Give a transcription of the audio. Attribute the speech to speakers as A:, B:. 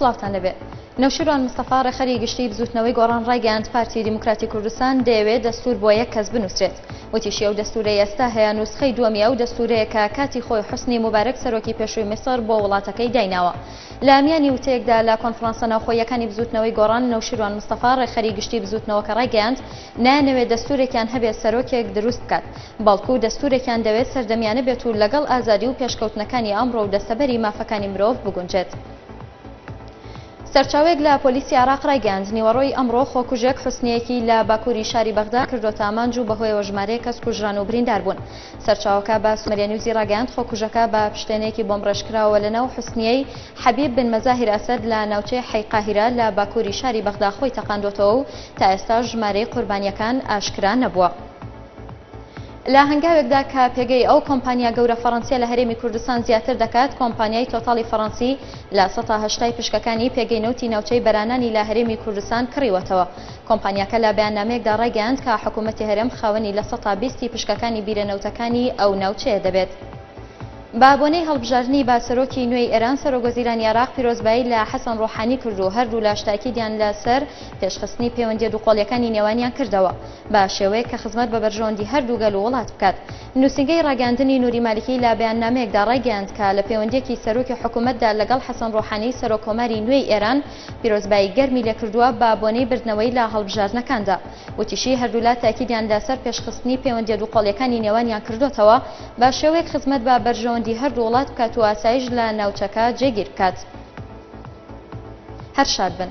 A: سڵاوتان لەبێ. نەوشیروان مستەفا ڕێخەری گشتی بزوتنەوەی گۆڕان ڕایگەیاند پارتی دیموکراتی کوردستان دەیەوێت دەستور بۆ یەک کەس بنوسرێت وتیشی ئەو دەستورەی ئێستا هەیە نوسخەی دووەمی ئەو دەستورەیە کە کاتی خۆی حسنی موبارەک سەرۆکی پێشووی میسر بۆ وڵاتەکەی دایناوە لە میانی وتەیەکدا لە کۆنفرانسە ناوخۆیەکانی بزوتنەوەی گۆڕان نەوشیروان مستەفا ڕێخەری گشتی بزوتنەوەکە ڕایگەیاند نایانەوێت دەستورێکیان هەبێت سەرۆکێک دروست بکات، بەڵکو دەستورێکیان دەوێت سەردەمیانە بێت و لەگەڵ ئازادی و پێشکەوتنەکانی ئەمڕۆ و دەستەبەری مافەکانی مرۆڤ بگونجێت. سەرچاوەیەک لە پۆلیسی عێراق رایگەیاند، نیوەڕۆی ئەمڕۆ خۆکوژێک حوسنییەکی لە باکوری شاری بەغدا کردۆتە ئامانج و بەهۆیەوە ژمارەیەک کەس کوژران و بریندار بوون. سەرچاوەکە بە سومەریانیوزی راگەیاند، خۆکوژەکە بە پشتێنەیەکی بۆمبڕێژکراوەوە لەناو حوسنییەی، حەبیب بن مەزاهیر ئەسەد لە ناوچەی حەی قاهیرە لە باکووری شاری بەغدا خۆی تەقاندووەتەوە و تا ئێستاش ژمارەی قوربانییەکان ئاشکرا نەبووە. لە هەنگاوێکدا کە پێگەی ئەو کۆمپانیا گەورە فەڕەنسییە لە هەرێمی کوردستان زیاتر دەکات، کۆمپانیای تۆتاڵی فەڕەنسی لە سەتا هەشتای پشکەکانی پێگەی نەوتی ناوچەی بەرانانی لە هەرێمی کوردستان کڕیوەتەوە. کۆمپانیاکە لە بەیاننامەیەکدا ڕایگەیاند کە حکوومەتی هەرێم خاوەنی لە سەتا بیست ی پشکەکانی بیرە نەوتەکانی ئەو ناوچەیە دەبێت. بە بۆنەی هەڵبژاردنی بە سەرۆکی نوێی ئێران، سەرۆک وەزیرانی عێراق پیرۆزبایی لە حەسەن ڕۆحانی کرد و هەردوولاش تاکیدیان لە سەر پێشخستنی پێوەندییە دووقۆڵییەکانی نێوانیان کردەوە بە شێوەیەک کە خزمەت بە بەرژەوەندی هەردوو گەل و وڵات بکات. نووسینگەی ڕاگەیاندنی نوری مالکی لە بەیاننامەیەکدا ڕایگەیاند کە لە پێوەندییەکی سەرۆکی حکوومەتدا لەگەڵ حەسەن ڕۆحانی سەرۆک کۆماری نوێی ئێران پیرۆزبایی گەرمی لێ کردووە بە بۆنەی بردنەوەی لە هەڵبژاردنەکاندا وتیشی، هەردوولا تاکیدیان لە سەر پێشخستنی پەیوەندییە دووقۆڵییەکانی نێوانیان کردۆتەوە، بە شێوەیەک خزمەت بە بەرژەوەندی هەردوو وڵات بکات و ئاسایش لە ناوچەکە جێگیر بکات. هەر شاد بن.